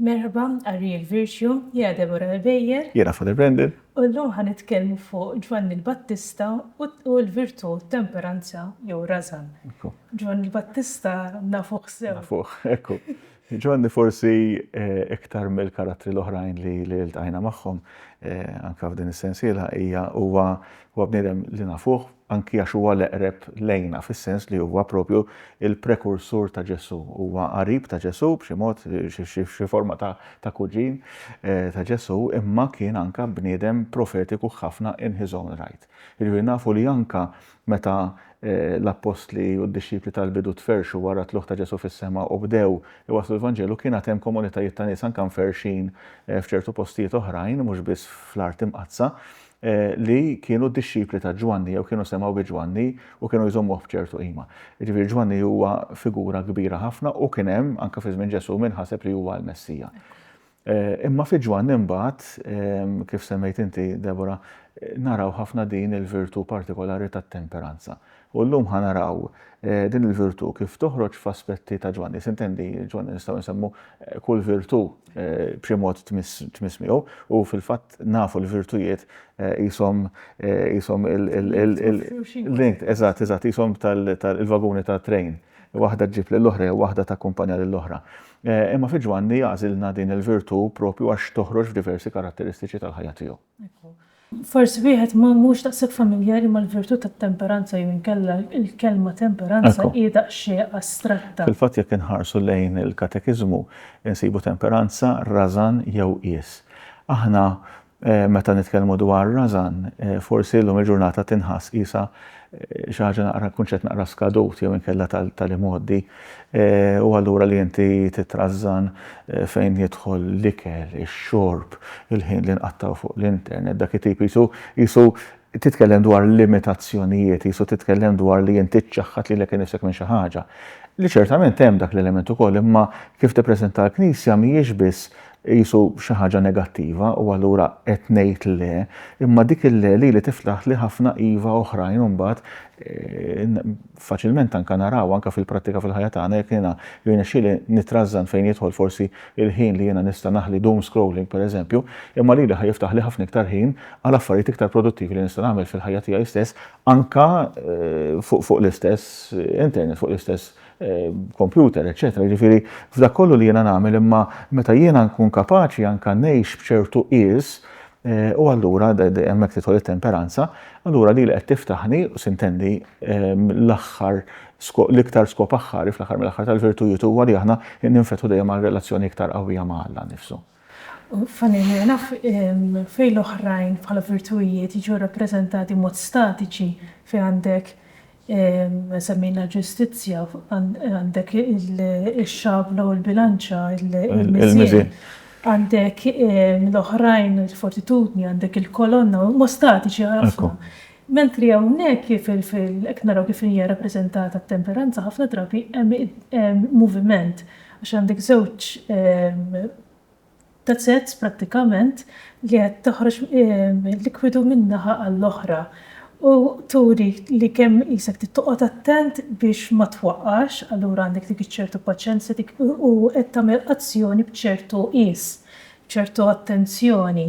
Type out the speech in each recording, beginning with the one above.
Merħba, qari l-Virtue, jiena Deborah Ebejer. Jiena Father Brendan. U llum ħa nitkellmu fuq Ġwanni l-Battista u l-virtù temperanza jew rażan. Ġwanni l-Battista nafuh sew. Nafuh, ekku. Ġwanni forsi iktar mill-karattri l-oħrajn li ltqajna magħhom anke f'din is-sensiela hija huwa huwa bniedem li nafuh anki għax huwa l-eqreb lejna fis-sens li huwa propju l-prekursur ta' Ġesù. Huwa qarib ta' Ġesù b'xi mod, xi forma ta' ta' kuġin ta' Ġesù, imma kien anke bniedem profetiku ħafna in his own right. Jiġifieri nafu li anke Meta l-appostli u d-dixxipli tal-bidu tferrxu wara t-tlugħ ta' Ġesù fis-sema u bdew iwasslu l-Vanġelu, kien għad hemm komunitajiet ta' nies anke mferrxin f'ċertu postijiet oħrajn, mhux biss fl-art imqaddsa, li kienu d-dixxipli ta' Ġwanni jew kienu semgħu bi Ġwanni u kienu jżommuh b'ċertu qima. Jiġifieri Ġwanni huwa figura kbira ħafna u kien hemm, anke fi żmien Ġesù, min ħaseb li huwa l-Messija. Imma fi Ġwann imbagħad, kif semmejt inti, Deborah, naraw ħafna din il-virtù partikolari tat-temperanza. U llum ħa naraw din il-virtù kif toħroġ f'aspetti ta' Ġwanni. Sintendi Ġwanni nistgħu nsemmu kull virtù b'xi mod tmiss miegħu u fil-fatt nafu l-virtujiet qishom qishom il-, eżatt, eżatt, qishom il-vaguni tat-trejn. Waħda ġġib lill-oħra jew waħda takkumpanja lill-oħra. Imma fi Ġwanni għażilna din il-virtù proprju għax toħroġ f'diversi karatteristiċi tal-ħajja tiegħu. Forsi wieħed mhux daqshekk familjari mal-virtù tat-temperanza jew inkella l-kelma temperanza hi daqsxejn astratta. Fil-fatt jekk inħarsu lejn il-Katekiżmu nsibu temperanza, rażan jew qies. Aħna Meta nitkellmu dwar rażan, forsi llum il-ġurnata tinħass qisha xi ħaġa naqra kunċett naqra skadut jew inkella tal-imgħoddi. U allura li inti titrażżan fejn jidħol l-ikel, ix-xorb, il-ħin li nqattgħu fuq l-internet, dak it-tip qisu qisu titkellem dwar limitazzjonijiet, qisu titkellem dwar li inti ċċaħħad lilek innifsek minn xi ħaġa. Li ċertament hemm dak l-element ukoll, imma kif tippreżentah l-Knisja mhijiex biss Iqisu xi ħaġa negattiva u allura qed ngħid le, imma dik il-le lili tiftaħli ħafna iva oħrajn imbagħad faċilment anke naraw anke fil-prattika fil-ħajja tagħna jekk jiena jirnexxieli nittrażżan fejn jidħol forsi l-ħin li jiena nista' naħli doom scrolling pereżempju, imma lili ħa jiftaħli ħafna iktar ħin għal affarijiet iktar produttivi li nista' nagħmel fil-ħajja tiegħi stess anke fuq l-istess internet, fuq l-istess kompjuter, eccetera. Ġifiri, f'dak kollu li jena nagħmel imma meta jiena nkun kapaċi anka ngħix b'ċertu qies eh, u allura hemmhekk titħol it-temperanza, allura li qed tiftaħni u sintendi ehm, l-aħħar l-iktar skop aħħari fl-aħħar mill-aħħar tal-virtujiet huwa li aħna ninfetħu dejjem għal relazzjoni iktar qawwija ma' Alla nifsu. Funny enough, fejn l-oħrajn bħala virtuwijiet jiġu rappreżentati b'mod statiċi, fejn għandek, semmejna l-ġustizzja, għandek ix-xabla u l-bilanċa, il-miżien, għandek l-oħrajn, il-fortitudni, għandek il-kolonna, huma statiċi ħafna. Mentri hawnhekk kif qed naraw kif hija rappreżentata t-temperanza ħafna drabi hemm moviment għax għandek żewġ tazzez prattikament li qed toħroġ likwidu minn naħa għall-oħra u turi li kemm qisek trid toqgħod attent biex ma twaqqax allura għandek dik iċ-ċertu paċenzja dik u qed tagħmel azzjoni b'ċertu qies ċertu attenzjoni.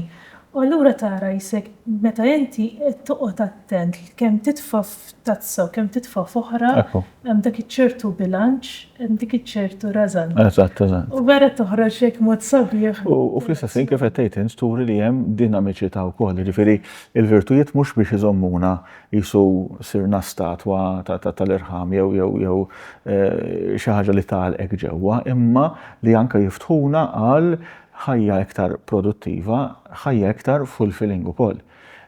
U allura tara jisek meta inti qed toqgħod attent kemm titfa' f'tazza u kemm titfa' f'oħra, hemm dak iċ-ċertu bilanċ, hemm dik iċ-ċertu rażan. Eżatt, eżatt. U vera toħroġ hekk mod sabiħ. U fl-istess ħin kif qed tgħid int turi li hemm dinamiċità wkoll, jiġifieri l-virtujiet mhux biex iżommuna qisu sirna statwa tal-irħam jew jew jew eh, xi ħaġa li tagħlqek ġewwa, imma li anke jiftħuna għal ħajja iktar produttiva, ħajja iktar fulfilling ukoll.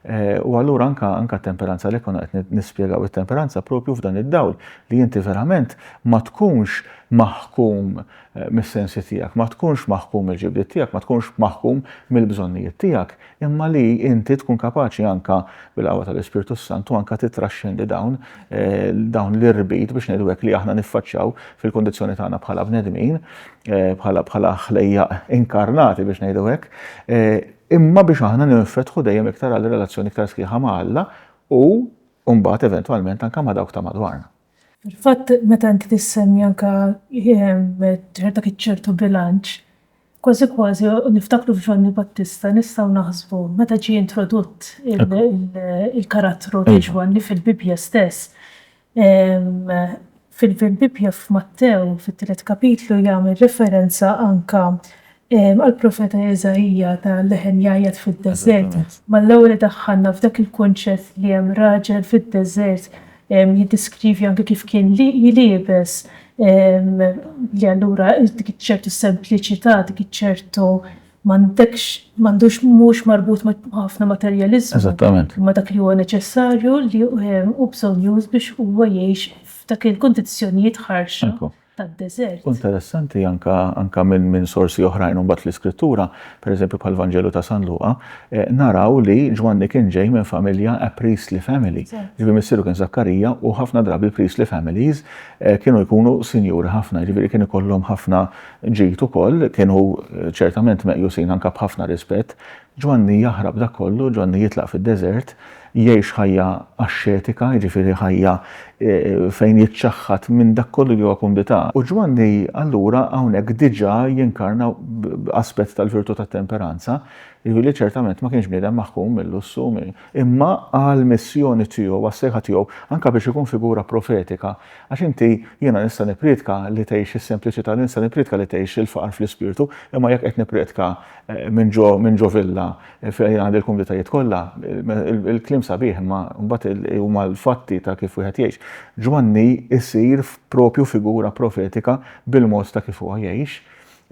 Eh, u allura anka anka temperanza li kuna qed nispjegaw it-temperanza propju f'dan id-dawl li inti verament ma tkunx maħkum eh, mis-sensi tiegħek, ma tkunx maħkum il-ġibdiet tiegħek, ma tkunx maħkum mill-bżonnijiet tiegħek, imma li inti tkun kapaċi anka bil-qawwa tal-Ispirtu s-Santu anka titraxxendi dawn dawn l-irbit biex ngħidu hekk li aħna niffaċċjaw fil-kondizzjoni tagħna bħala bnedmin, bħala bħala ħlejja inkarnati biex ngħidu hekk, imma biex aħna ninfetħu dejjem iktar għal relazzjoni iktar sħiħa ma' Alla u mbagħad eventwalment anka ma' dawk ta' madwarna. Fil-fatt meta inti tissemmi anka ċerta ċertu bilanċ, Kważi kważi niftakru f'Ġwanni Battista nistgħu naħsbu meta ġie introdutt il-karattru ta' Ġwanni fil-Bibbja stess. Fil-Bibbja f'Mattew fit-tielet kapitlu jagħmel referenza anke għall-profeta Eżaija ta' leħen jgħajjat fid-deżert. Malla hu li daħħalna f'dak il-kunċett li hemm raġel fid-deżert Jiddeskrivi anke kif kien liebes li allura dik ċertu sempliċità, dik ċertu m'għandekx m'għandux mhux marbut ma' ħafna materjaliżmu. Eżattament. Imma dak li huwa neċessarju li hu bżonjuż biex huwa jgħix f'dak il-kundizzjonijiet ħarxa. tad-deżert. Interessanti anke anke minn minn sorsi oħrajn imbagħad fl-Iskrittura, pereżempju bħall-Vanġelu ta' San Luqa, naraw li Ġwanni kien ġej minn familja a priestly family. Jiġifieri missieru kien Żakkarija u ħafna drabi l-priestly families kienu jkunu sinjuri ħafna, jiġifieri kien ikollhom ħafna ġid ukoll, kienu ċertament meqjusin anke b'ħafna rispett. Ġwanni jaħrab dak kollu, Ġwanni jitlaq fid-deżert, jgħix ħajja axxetika, jiġifieri ħajja fejn jiċċaħħad minn dak kollu li huwa kumdità. U Ġwanni allura hawnhekk diġà jinkarna aspett tal-virtù tat-temperanza, jiġifieri li ċertament ma kienx bniedem maħkum mil-lussu, imma għall-missjoni tiegħu, għas-sejħa tiegħu, anke biex ikun figura profetika. Għax inti, jiena nista' nippriedka li tgħix is-sempliċità, nista' nippriedka li tgħix il-faqar fl-ispirtu, imma jekk qed nippriedka minn ġo villa Fejn għandi l-kumditajiet kollha, il-kliem sabiħ imma mbagħad huma l-fatti ta' kif wieħed jgħix. Ġwanni jsir propju figura profetika bil-mod ta' kif huwa jgħix.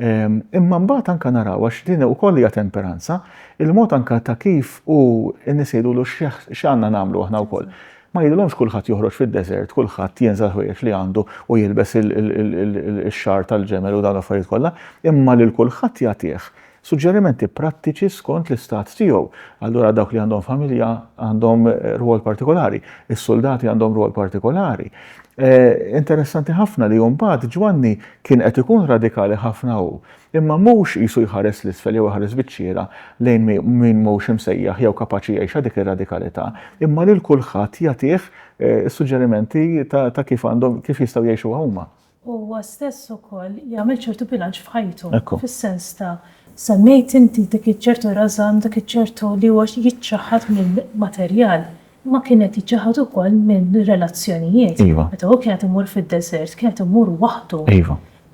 Ehm, imma mbagħad anke naraw għax din ukoll hija temperanza, il-mod anke ta' kif u n-nies jgħidulu x'għandna nagħmlu aħna wkoll. Ma jgħidulhomx kulħadd joħroġ fid-deżert, kulħadd jenżel ħwejjeġ li għandu u jilbes ix-xar tal-ġemel u dawn l-affarijiet kollha, imma lil kulħadd jagħtih Suġġerimenti prattiċi skont l-istat tiegħu. Allura dawk li għandhom familja għandhom rwol partikolari, is-suldati għandhom rwol partikolari. Eh, interessanti ħafna li mbagħad Ġwanni kien qed ikun radikali ħafna hu, imma mhux qisu jħares l-isfel jew jħares biċċiera lejn min mhux imsejjaħ jew kapaċi jgħixha dik ir-radikalità, imma lil kulħadd jagħtih eh, suġġerimenti ta' kif għandhom kif jistgħu jgħixu huma. huwa stess ukoll jagħmel ċertu bilanċ f'ħajtu, fis-sens ta'. Semmejt inti dik iċ-ċertu rażan, dak iċ-ċertu li huwa jiċċaħħad mill-materjal, imma kien qed jiċċaħħad ukoll mill-relazzjonijiet. Meta hu kien qed imur fid-deżert, kien qed imur waħdu.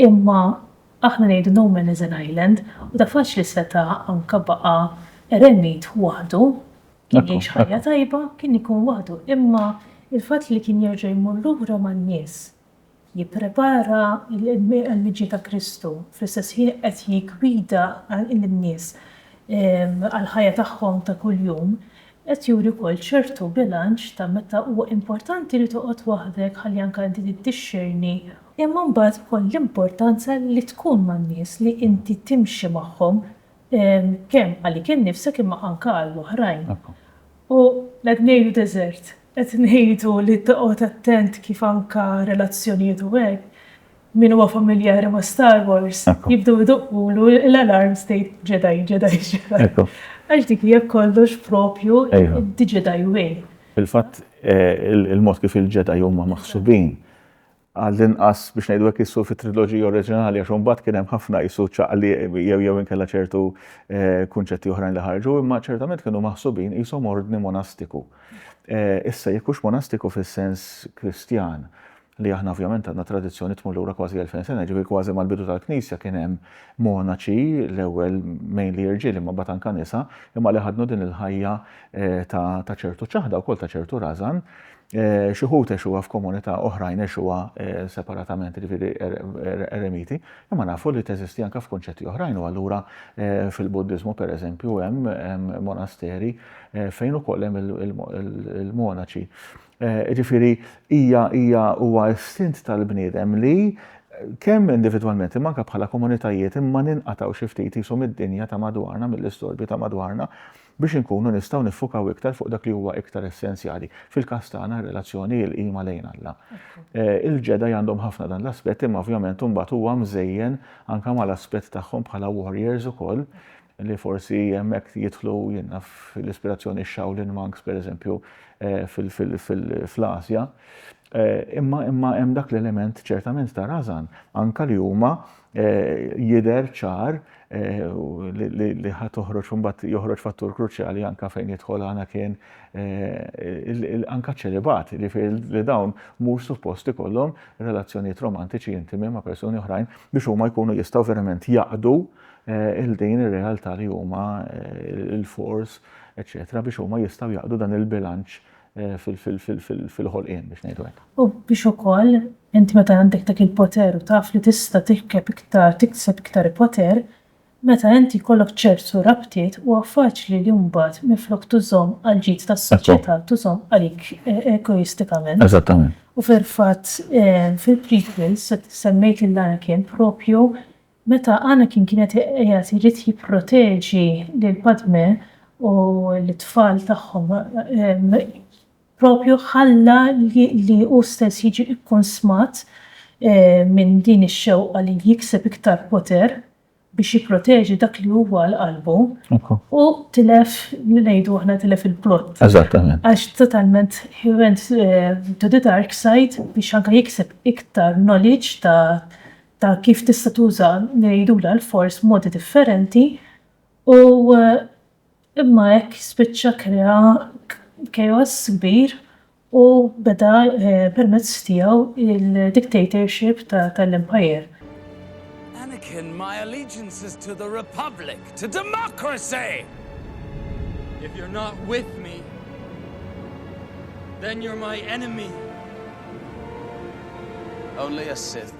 Imma aħna ngħidu no man is an island, u ta' faċli seta' anke baqa' eremit waħdu, kien jgħix ħajja tajba, kien ikun waħdu, imma l-fatt li kien jerġa' jmur lura man-nies, jipprepara l-imġiet ta' Kristu, fl-istess ħin qed jiggwida lin-nies għall-ħajja tagħhom ta' kuljum, qed juri wkoll ċertu bilanċ ta' meta huwa importanti li toqgħod waħdek ħalli anke inti tiddixxerni, imma mbagħad ukoll l-importanza li tkun man-nies, li inti timxi magħhom kemm għalik innifsek imma anke għall-oħrajn. U qed ngħidu deżert. Qed ngħidu li toqgħod attent kif anke relazzjonijiet u hekk, min huwa familjari ma' Star Wars, jibdew idoqqulu l-alarms tgħid Jedi, Jedi, Jedi. Għax dik hija kollox proprju the Jedi way. Fil-fatt, il-mod kif il-Jedi huma maħsubin għall-inqas biex ngħidu hekk qisu fit-triloġija oriġinali għax imbagħad kien hemm ħafna qisu ċaqliq jew jew inkella ċertu eh, kunċetti oħrajn li ħarġu, imma ċertament kienu maħsubin qishom ordni monastiku. Eh, issa jekk hux monastiku fis-sens Kristjan, li aħna ovvjament għandna tradizzjoni tmur lura kważi 2000 sena, ġifieri kważi mal-bidu tal-Knisja kien hemm monaċi l-ewwel mejn li jirġiel imma batan kanisa, imma li ħadnu din il-ħajja eh, ta' ċertu ċaħda wkoll ta' ċertu razan, Xi ħut għexuha f'komunità, oħrajn għexuha separatament, jiġifieri eremiti, imma nafu li teżisti anke f'kunċetti oħrajn u allura fil-Buddiżmu pereżempju hemm monasteri fejn ukoll hemm il-monaċi. Jiġifieri hija hija huwa istint tal-bniedem li kemm individwalment imma anke bħala komunitajiet imma ninqatgħu xi ftit qishom id-dinja ta' madwarna mill-istorbju ta' madwarna biex inkunu nistgħu niffukaw iktar fuq dak li huwa iktar essenzjali, fil-każ tagħna r-relazzjoni, il-qima lejn Alla. Il-Ġedaj għandhom ħafna dan l-aspett imma ovvjament imbagħad huwa mżejjen anke mal-aspett tagħhom bħala warriors ukoll li forsi hemmhekk jidħlu jien naf l-ispirazzjoni x-Shaolin Monks pereżempju fl-Asja. Imma hemm dak l-element ċertament ta' rażan anke li huma jidher ċar li ħa toħroġ mbagħad joħroġ fattur kruċjali anke fejn jidħol għana kien anke ċelibati, jiġifieri li dawn mhux suppost ikollhom relazzjonijiet romantiċi intimi ma' persuni oħrajn biex huma jkunu jistgħu verament jaqdu Eh, il-din ir-realtà li huma eh, il-fors, eċetera, biex huma jistgħu jaqdu dan il-bilanċ fil-ħolqien biex ngħidu hekk. U biex ukoll int meta għandek dak il-poter u taf li tista' tirkeb iktar, tikseb iktar poter, meta int jkollok ċertu rabtiet huwa faċli li mbagħad minflok tużhom għall-ġid tas-soċjetà tużhom għalik egoistikament. Eżattament. U fil-fatt fil-prequels semmejt lil Anakin propju Meta Anakin kien qed qiegħed irid jipproteġi lil Padme u lit-tfal tagħhom, propju ħalla li hu stess jiġi kkunsmat minn din ix-xewqa li jikseb iktar poter biex jipproteġi dak li huwa għal qalbu, u tilef, ngħidu aħna tilef il-plot. Eżattament. Għax totalment he went to the dark side biex anke jikseb iktar knowledge ta' ta' kif tista' tuża ngħidula l-fors b'modi differenti u imma hekk spiċċa krea chaos kbir u beda permezz tiegħu il-dictatorship tal-empire. Anakin, my allegiance is to the Republic, to democracy! If you're not with me, then you're my enemy! Only a Sith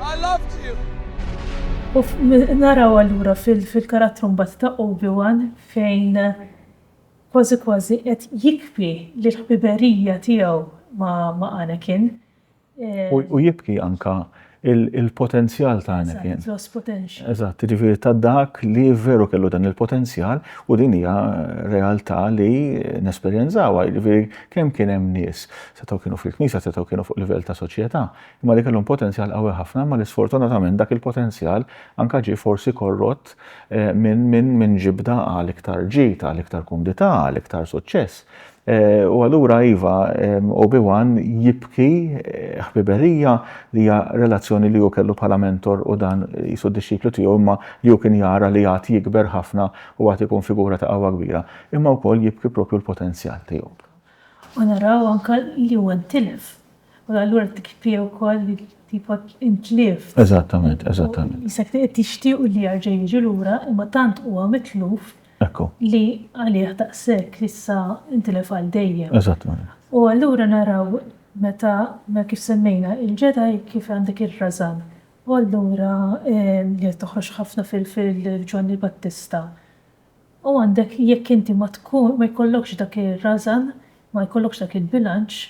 I loved you! U naraw allura fil-karattru mbagħad ta' Obi-Wan fejn kważi kważi qed jikbi li l-ħbiberija tiegħu ma' Anakin. U jibki anke il-potenzjal ta' Anakin. Eżatt, lost potential. Eżatt, jiġifieri ta' dak li veru kellu dan il-potenzjal u din hija realtà li nesperjenzawha, jiġifieri kemm kien hemm nies Setgħu kienu fil-Knisja, setgħu kienu fuq livell ta' soċjetà, imma li kellhom potenzjal qawwi ħafna imma li sfortunatament dak il-potenzjal anke ġie forsi korrott minn ġibda għal iktar ġid, għal iktar kumdità, għal iktar suċċess. U allura iva, Obi-Wan jibki ħbiberija li hija relazzjoni li hu kellu bħala mentor u dan jisu d-dixxiplu tiegħu imma li hu kien jara li għad jikber ħafna u għad ikun figura ta' qawwa kbira. Imma wkoll jibki propju l-potenzjal tiegħu. U naraw anke li huwa ntilef. U allura t-tkbir ukoll li tipo intlief. Eżattament, eżattament. Jisek qed jixtiequ li jerġa' jiġi lura imma tant huwa mitluf li għalih daqshekk issa ntilef għal dejjem. Eżattament. U allura naraw meta kif semmejna l-Ġedaj kif għandek ir-rażan. U allura li qed toħroġ ħafna fil-Ġwanni l-Battista. U għandek jekk inti ma tkun, ma jkollokx dak ir-rażan, ma jkollokx dak il-bilanċ,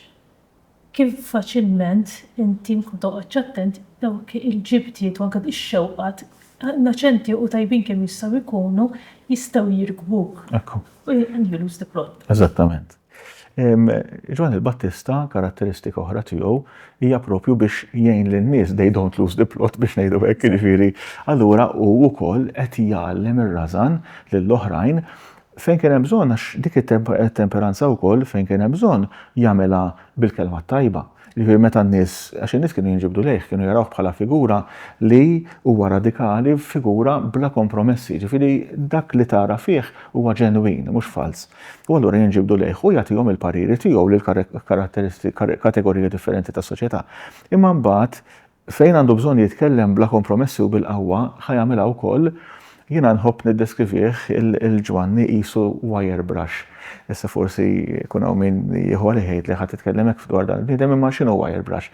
kif faċilment inti mkun toqgħodx attent, dawk il-ġibdiet u anke ix-xewqat, innoċenti u tajbin kemm jistgħu jkunu, jistgħu jirkbuk. Ekku. U you lose the plot. Eżattament. Ġwann il-Battista karatteristika oħra tiegħu hija propju biex jgħin lin-nies they don't lose the plot biex ngħidu hekk, jiġifieri allura hu wkoll qed jgħallem ir-rażan lil oħrajn fejn kien hemm bżonn għax dik it-temperanza wkoll fejn kien hemm bżonn jagħmilha bil-kelma t-tajba. Jiġifieri meta n-nies, għax in-nies kienu jinġibdu lejh, kienu jarawh bħala figura li huwa radikali, figura bla kompromessi, jiġifieri dak li tara fih huwa ġenwin, mhux falz. U allura jinġibdu lejh u jagħtihom il-pariri tiegħu lil karatteristi, kategoriji differenti tas-soċjetà. Imma mbagħad Fejn għandu bżonn jitkellem bla kompromessi u bil-qawwa, ħa jagħmilha wkoll, jiena nħobb niddeskrivih lil Ġwanni qisu wire brush. Issa forsi jkun hawn min jieħu għalih jgħid li ħa titkellem hekk dwar dan il-bniedem imma x'inhu wire brush?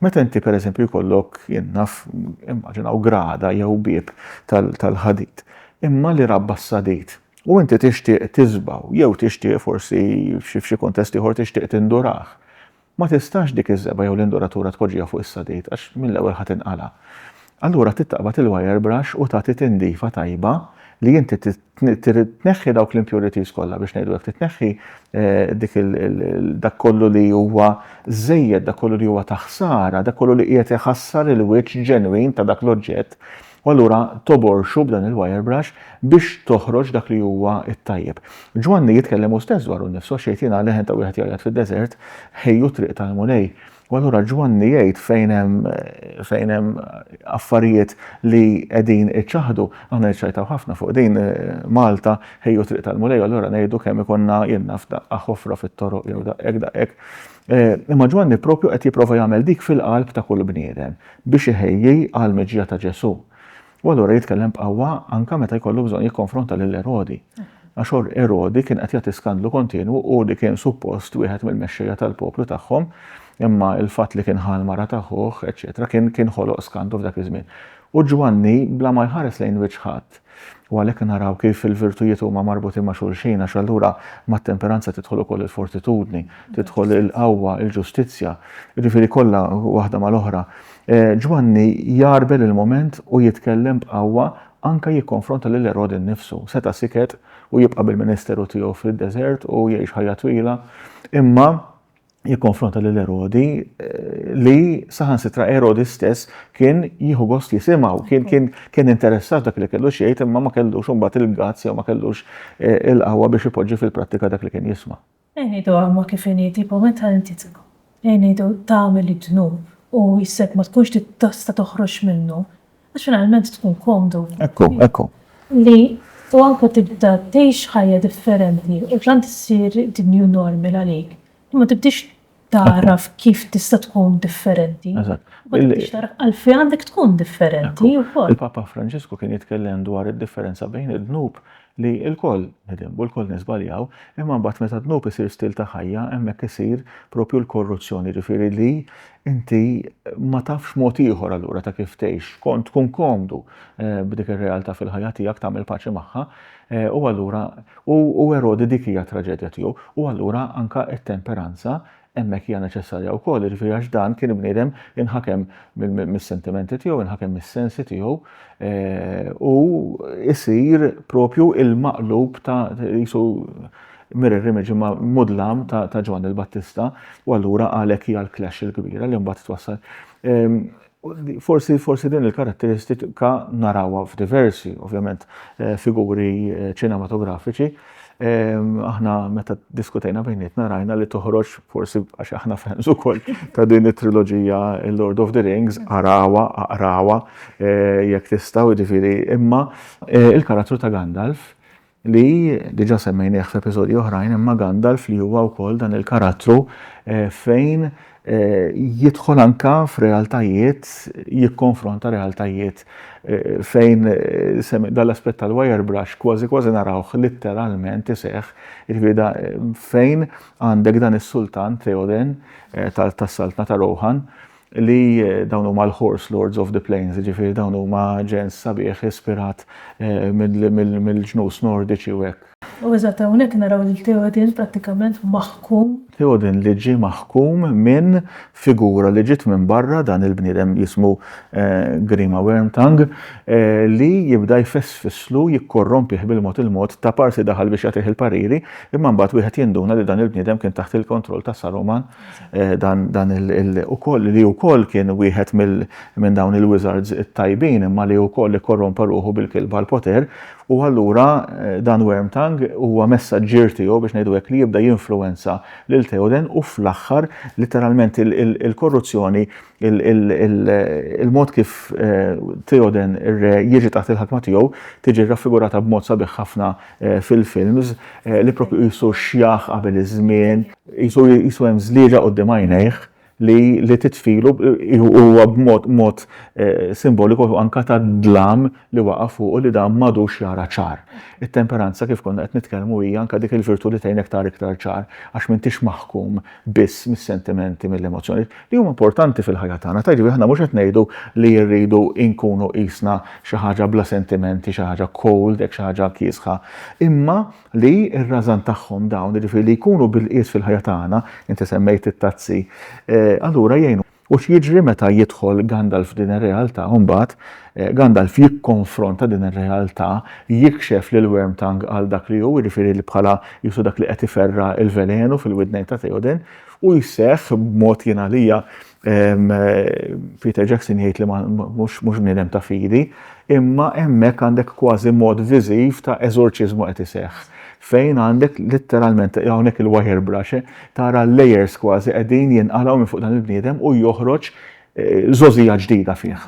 Meta inti pereżempju jkollok, jien naf, immaġinaw grada jew bieb tal-ħadid, imma li rabba s-sadid, u inti tixtieq tiżbgħu jew tixtieq forsi f'xi kuntest ieħor tixtieq tindurah, Ma tistax dik iż-żebgħa jew l-induratura tpoġġiha fuq is-sadid għax mill-ewwel ħa tinqala'. Allura trid taqbad il-wire brush u tagħti tindifa tajba li inti trid tneħħi dawk l-impurities kollha biex ngħidu hekk, trid tneħħi dik dak kollu li huwa żejjed, dak kollu li huwa ta' ħsara, dak kollu li qiegħed iħassar il-wiċċ ġenwin ta' dak l-oġġett u allura toborxu b'dan il-wirebrush biex toħroġ dak li huwa t-tajjeb. Ġwanni jitkellem hu stess dwaru nnifsu għax jgħid jiena leħen ta' wieħed jgħajjat fid-deżert, ħejju t-triq tal-Mulej. U allura Ġwanni jgħid fejn hemm fejn hemm affarijiet li qegħdin iċaħħdu, aħna niċċajtaw ħafna fuq din Malta, ħejju t-triq tal-Mulej, allura ngħidu kemm ikollna jien naf daqqa ħofra fit-toroq jew daqqa hekk daqqa hekk. Eh, imma Ġwanni propju qed jipprova jagħmel dik fil-qalb ta' kull bniedem biex iħejji għal miġja ta' Ġesù. U allura jitkellem b'qawwa anka meta jkollu bżonn jikkonfronta lil Erodi. Għax Erodi kien qed jagħti skandlu kontinwu u li kien suppost wieħed mill-mexxejja tal-poplu tagħhom, imma il-fatt li kien ħal mara ta' ħuħ, eċetera, kien kien ħoloq skandlu f'dak iż-żmien. U Ġwanni bla ma jħares lejn wiċċ ħadd, U għalhekk naraw kif il-virtujiet huma marbutin ma' xulxin, għax allura mat-temperanza tidħol ukoll il-fortitudni, tidħol il-qawwa, il-ġustizzja, jiġifieri kollha waħda mal-oħra. Ġwanni jgħarbel il-mument u jitkellem b'qawwa anke jikkonfronta lil Erodi nnifsu. Seta' siket u jibqa' bil-ministeru tiegħu fid-deżert u jgħix ħajja twila, imma jikkonfronta lil Erodi li saħansitra Erodi stess kien jieħu gost jisimgħu, kien kien kien interessat dak li kellu xejn imma ma kellux imbagħad il-gazz jew ma kellux eh, il-qawwa biex ipoġġi fil-prattika dak li kien jisma'. Ejnidu għamma kif inidi po meta inti tibqa. Ejnidu tagħmel id-dnub u jissek ma tkunx tista' toħroġ minnu. Għax finalment tkun komdu. Ekku, ekku. Li u anke tibda tgħix ħajja differenti u tant issir the new normal għalik li ma tibdiex tagħraf kif tista' tkun differenti. Eżatt. Ma tibdiex tagħraf għalfejn għandek tkun differenti wkoll. Il-Papa Franġisku kien jitkellem dwar id-differenza bejn id-dnub li lkoll nidinbu, lkoll niżbaljaw, imma mbagħad meta d-dnub isir stil ta' ħajja hemmhekk isir propju l-korruzzjoni, jiġifieri li inti ma tafx mod ieħor allura ta' kif tgħix, kont tkun komdu b'dik ir-realtà fil-ħajja tiegħek, tagħmel paċi magħha, u allura u Erodi dik hija t-traġedja tiegħu, u allura anke t-temperanza Hemmhekk hija neċessarja wkoll, jiġifieri għax dan kien bniedem inħakem mis-sentimenti tiegħu, inħakem mis-sensi tiegħu u jsir propju il-maqlub ta' qisu mirror image imma mudlam ta' Ġwanni l-Battista u allura għalhekk hija l-clash il-kbira li mbagħad twassal. Ehm, Forsi, forsi din il-karatteristika narawha f'diversi, ovvjament, eh, figuri eh, ċinematografiċi. Ehm, aħna meta diskutejna bejnietna rajna li toħroġ forsi għax aħna fans ukoll ta' din it-triloġija Lord of the Rings, arawa, aqrawa, eh, jekk tistgħu jiġifieri imma il-karattru ta' Gandalf li diġà semmejnieh f'episodji oħrajn imma Gandalf li huwa wkoll dan il-karattru eh, fejn eh, jidħol anka f'realtajiet, jikkonfronta realtajiet eh, fejn dal-aspett tal-wire brush kważi kważi narawh litteralment iseħħ, jiġifieri da fejn għandek dan is-sultan Theoden tas-saltna ta' Rohan li dawn huma l-Horse Lords of the Plains, jiġifieri dawn huma ġens sabiħ ispirat mill-ġnus Nordiċi u hekk. U eżatt hawnhekk naraw lil Theoden prattikament maħkum. Theoden li ġie maħkum minn figura li ġiet minn barra dan il-bniedem jismu Grima Wormtongue li jibda jfessfislu jikkorrompih bil-mod il-mod ta' parsi daħal biex jagħtih il-pariri imma mbagħad wieħed jinduna li dan il-bniedem kien taħt il-kontroll ta' Saruman Eh, dan, dan il, il ukoll li ukoll kien wieħed minn dawn il-wizards it-tajbin imma li ukoll ikkorrompa ruħu bil-kilba l-poter u allura eh, dan Wormtang huwa messaġġier tiegħu biex ngħidu hekk li jibda jinfluwenza lil Theoden u fl-aħħar literalment il-korruzzjoni il-mod kif eh, Theoden ir-re jiġi taħt il-ħakma tiegħu tiġi raffigurata b'mod sabiħ ħafna fil-films li propju jisu xjaħ qabel iż-żmien Qisu qisu hemm żlieġa quddiem għajnejh li li titfilu huwa b'mod mod eh, simboliku anka tad-dlam li waqa' fuqu li dan m'għadux jara ċar. It-temperanza kif konna qed nitkellmu hija anka dik il-virtu li tgħinek tara iktar ċar għax m'intix maħkum biss mis-sentimenti mill-emozzjonijiet li huma importanti fil-ħajja tagħna. Ta' jiġifieri aħna mhux qed ngħidu li rridu nkunu qisna xi ħaġa bla sentimenti, xi ħaġa cold, hekk xi ħaġa kiesħa. Imma li r-rażan tagħhom dawn, jiġifieri li jkunu bil-qies fil-ħajja tagħna, inti semmejt it-tazzi, allura jgħinu. U x'jiġri meta jidħol Gandalf f'din ir-realtà u mbagħad Gandalf jikkonfronta din ir-realtà, jikxef lil Wormtongue għal dak li hu, jiġifieri li bħala jisu dak li qed iferra' l-velenu fil-widnejn ta' Theoden, u jseħħ b'mod jien għalija Peter Jackson jgħid li mhux bniedem ta' fidi, imma hemmhekk għandek kważi mod viżiv ta' eżorċiżmu qed iseħħ. Fejn għandek letteralment hawnhekk il-wire brush, eh, tara l-layers kważi qegħdin jinqalgħu minn fuq dan il-bniedem u joħroġ żożija eh, ġdida fih.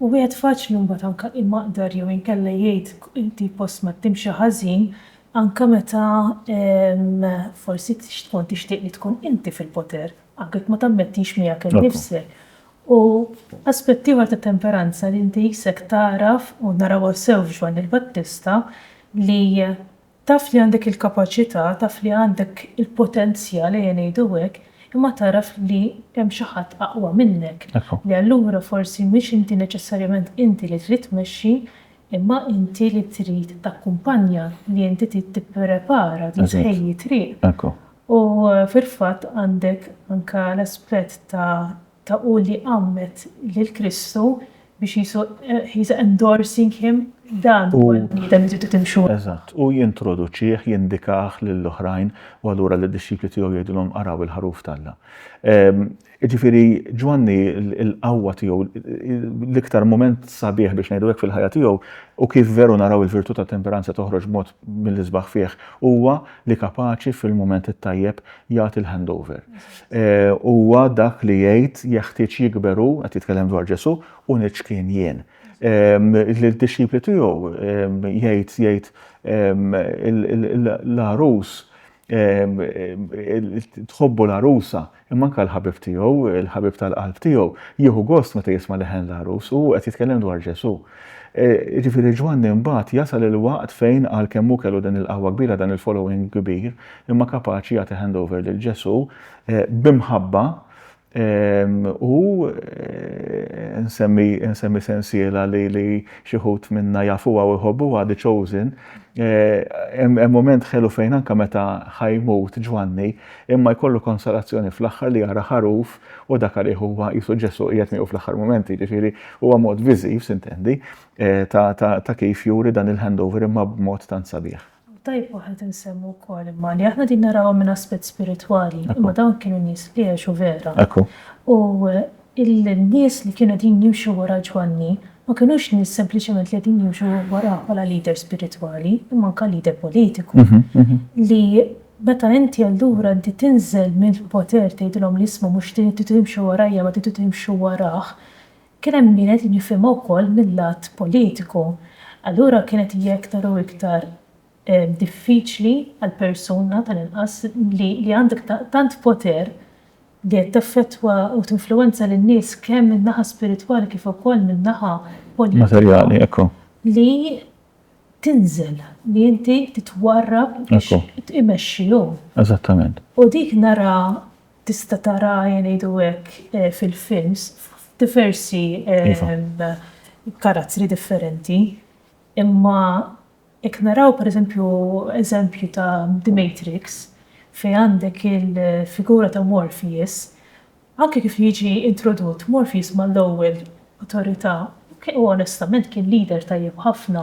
U wieħed faċli mbagħad anke imaqdar jew inkella jgħid li post ma timxi ħażin anke meta forsi tkun tixtieq li tkun inti fil-poter, anke jekk ma tammettix miegħek innifsek. U aspett ieħor ta' temperanza li inti jisek tagħraf u narawha sew f'Ġwanni l-Battista li Taf li għandek il-kapaċità, taf li għandek il-potenzjal, ejja ngħidu hekk, imma tagħraf li hemm xi ħadd aqwa minnek, li allura forsi mhix inti neċessarjament inti li trid tmexxi, imma inti li trid takkumpanja, li inti trid tipprepara, trid tħejji t-triq. U fil-fatt għandek anke l-aspett ta' ta' hu li għammed lil Kristu biex Ġesu he is endorsing him dan huwa l-bniedem li tridu timxu. Eżatt, hu jintroduċih, jindikah lil oħrajn u allura lid-dixxipli tiegħu jgħidilhom araw il-ħaruf t'Alla. Jiġifieri Ġwanni l-qawwa tiegħu, l-iktar mument sabiħ biex ngħidu hekk fil-ħajja tiegħu u kif veru naraw il-virtu tat-temperanza toħroġ b'mod mill-isbaħ fih huwa li kapaċi fil-mument it-tajjeb jagħti l-handover. Huwa dak li jgħid jeħtieġ jikber hu, qed jitkellem dwar Ġesù, u niċkien jien. Lid-dixxipli tiegħu jgħid jgħid l-għarus tħobbu l-għarusa, imma anke l-ħabib tiegħu, il-ħabib tal-qalb tiegħu, jieħu gost meta jisma' leħen l-għarus u qed jitkellem dwar Ġesù. E, ġifiri Ġwanni mbagħad jasal il-waqt fejn għalkemm hu kellu din il-qawwa kbira dan il-following kbir, imma kapaċi jagħti handover lil Ġesù e, b'imħabba e, u nsemmi, nsemmi sensiela li, li xi ħut minna jafuha u jħobbuha The Chosen, hemm moment ħelu fejn anke meta ħajmut Ġwanni, imma jkollu konsolazzjoni fl-aħħar li jara ħaruf U dak għalih huwa qisu Ġesù qiegħed miegħu fl-aħħar mument, jiġifieri huwa mod viżiv, sintendi, eh, ta' kif juri dan il-handover imma b'mod tant sabiħ. Tajjeb waħed insemmu wkoll imma li aħna din narawha minn aspett spiritwali, imma dawn kienu nies li għexu vera. U il-nies li kienu qegħdin jimxu wara Ġwanni ma kinux nies sempliċement li qegħdin jimxu warah bħala leader spiritwali, imma anke leader politiku. Li Meta inti allura inti tinżel mill-poter tgħidilhom li isma' mhux tridu timxu warajja ma tridu timxu warah, kien hemm min qed jifhimha wkoll mil-lat politiku. Allura kienet hija iktar u iktar diffiċli għal persuna tal-inqas li li għandek tant poter li qed teffettwa u tinfluwenza lin-nies kemm min-naħa spiritwali kif ukoll min-naħa politika li tinżel, li inti titwarrab biex imexxihom. Eżattament. U dik nara tista' tara ngħidu hekk fil-films f'diversi karattri differenti. Imma jekk naraw pereżempju eżempju ta' The Matrix fejn għandek il-figura ta' Morpheus Anke kif jiġi introdott Morpheus mal-ewwel Awtorità, hu onestament kien leader tajjeb ħafna,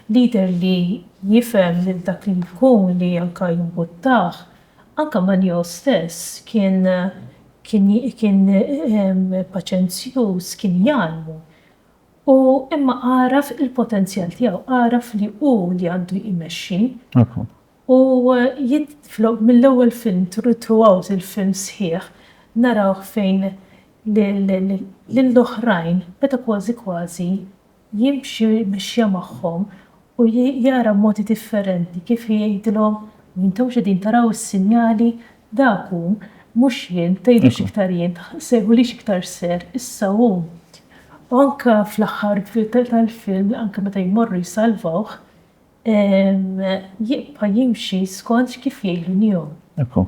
leader li jifhem lil dak li jkun li anke jimbuttah. Anke ma' Neo stess kien kien paċenzjuż, kien jgħallmu. U imma għaraf il-potenzjal tiegħu, għaraf li hu li għandu jmexxi. U jidħlu mill-ewwel film throughout il-film sħiħ narawh fejn lill-oħrajn beda kważi kważi jimxi mexja magħhom u jara b'modi differenti kif jgħidilhom intomx qegħdin taraw is-sinjali dak hu mhux jien tgħidux iktar jien sejħulix iktar sir issa hu u anke fl-aħħar tal-film anke meta jmorru jsalvawh jibqa' jimxi skont kif jgħidu nihom. Ekku.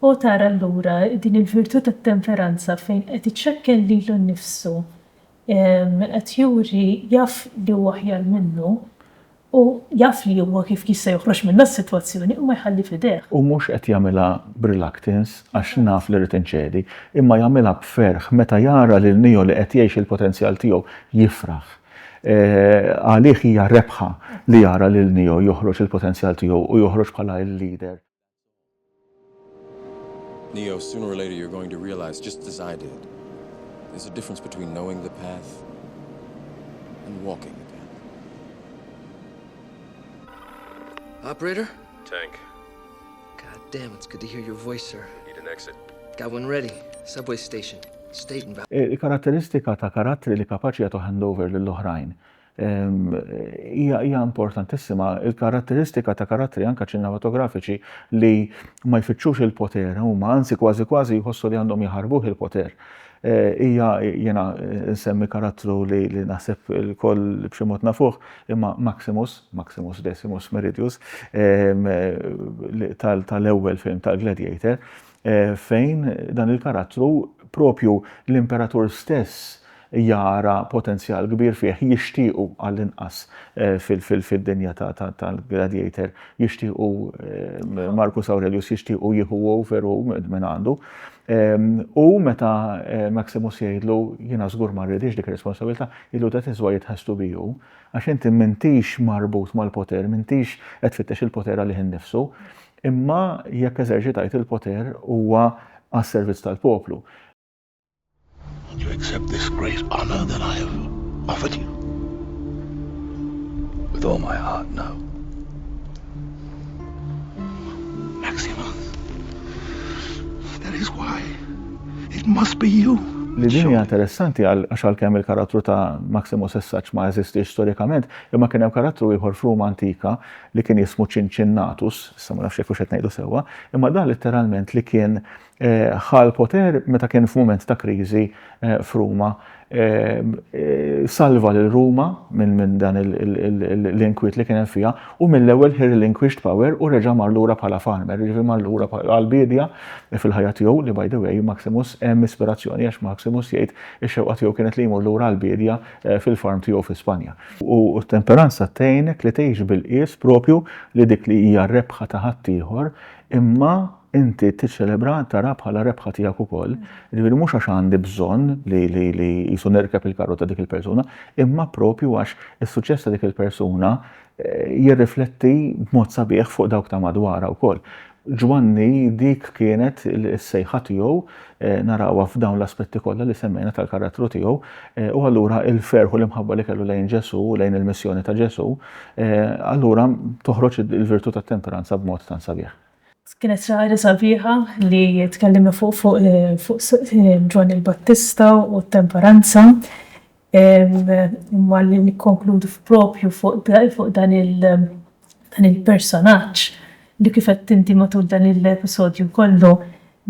O tara allura din il-virtù tat-temperanza fejn qed iċekken lilu nnifsu, qed juri jaf li hu aħjar minnu u jaf li huwa kif jista' joħroġ minnha s-sitwazzjoni u ma jħalli f'idejh. U mhux qed jagħmilha b'reluctance għax naf li rrid inċedi, imma jagħmilha b'ferħ meta jara lil niehu li qed jgħix il-potenzjal tiegħu jifraħ. Għalih hija rebħa li jara lil Neo joħroġ il-potenzjal tiegħu u joħroġ bħala l-leader. Neo, sooner or later you're going to realise, just as I did, there's a difference between knowing the path and walking the path. Operator? Tank. God damn, it's good to hear your voice, sir. Need an exit. Got one ready. Subway station. State and back. Il-karatteristika ta' karattri li kapaċi jagħtu handover lil oħrajn hija hija importantissima. Il-karatteristika ta' karattri anke ċinematografiċi li ma jfittxux il-poter huma anzi kważi kważi jħossu li għandhom jaħarbuh il-poter. Hija, jiena nsemmi karattru li naħseb ilkoll b'xi mod nafuh, imma Maximus, Maximus Decimus Meridius, tal-ewwel film tal-Gladiator, fejn dan il-karattru proprju l-Imperatur stess jara potenzjal kbir fih, jixtiequ għallinqas fid-dinja tal-Gladiator jixtiequ Marcus Aurelius jixtiequ jieħu over u minn għandu. U meta Maximus jgħidlu jiena żgur ma rridix dik ir-responsabilità, jgħidlu that is why it has to be you, għax inti m'intix marbut mal-poter, m'intix qed tfittex il-poter għalih innifsu, imma jekk eżerċitajt il-poter huwa għas-servizz tal-poplu. And you accept this great honor that I have offered you? With all my heart, no. Maximus, that is why it must be you. Li din hija interessanti għal għax kemm il-karattru ta' Maximus Essaċ ma eżistix storikament, imma kien hemm karattru ieħor f'Ruma antika li kien jismu Cincinnatus, issa ma nafx jekk qed ngħidu sewwa, imma dan letteralment li kien uh, ħa l-poter meta kien f'mument ta' kriżi f'Ruma. Salva lil Ruma minn dan l-inkwiet li kien hemm fiha u mill-ewwel he relinquished power u reġa' mar lura bħala farmer, jiġifieri mar lura għall-biedja fil-ħajja tiegħu li by the way Maximus hemm ispirazzjoni għax Maximus jgħid ix-xewqa tiegħu kienet li jmur lura għall-biedja fil-farm tiegħu fi Spanja. U t-temperanza tgħinek li tgħix bil-qies proprju li dik li hija r-rebħa ta' ħaddieħor imma inti tiċċelebra, tara bħala rebħa tiegħek ukoll. Ġifieri mhux għax għandi bżonn li li li jisu nerkeb il-karru ta' dik il-persuna, imma propju għax is-suċċess ta' dik il-persuna eh, jirrifletti b'mod sabiħ fuq dawk ta' madwara wkoll. Ġwanni dik kienet is-sejħa tiegħu eh, narawha f'dawn l-aspetti kollha li semmejna tal-karattru tiegħu eh, u allura il-ferħu l-imħabba li kellu lejn Ġesu, lejn il-missjoni ta' Ġesu, allura toħroġ il-virtù tat-temperanza b'mod tan sabiħ. Kienet xi ħaġa sabiħa li tkellimna fuq Ġwanni il-Battista u t-temperanza. Imma li nikkonkludu propju fuq dan il-personaġġ li kif għedt inti matul dan l-episodju kollu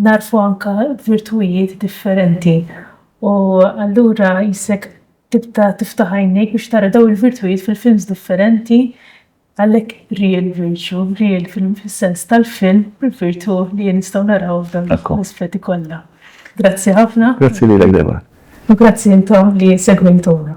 nagħrfu anke virtujiet differenti. U allura jissek tibda tiftaħ għajnejk biex tara dawn il-virtujiet fil-films differenti Għalhekk real virtue, real fis-sens tal-film, il-virtù li nistgħu naraw f'dawn l-aspetti kollha. Grazzi ħafna. Grazzi lilek Debra. U grazzi intom li segwejtuna.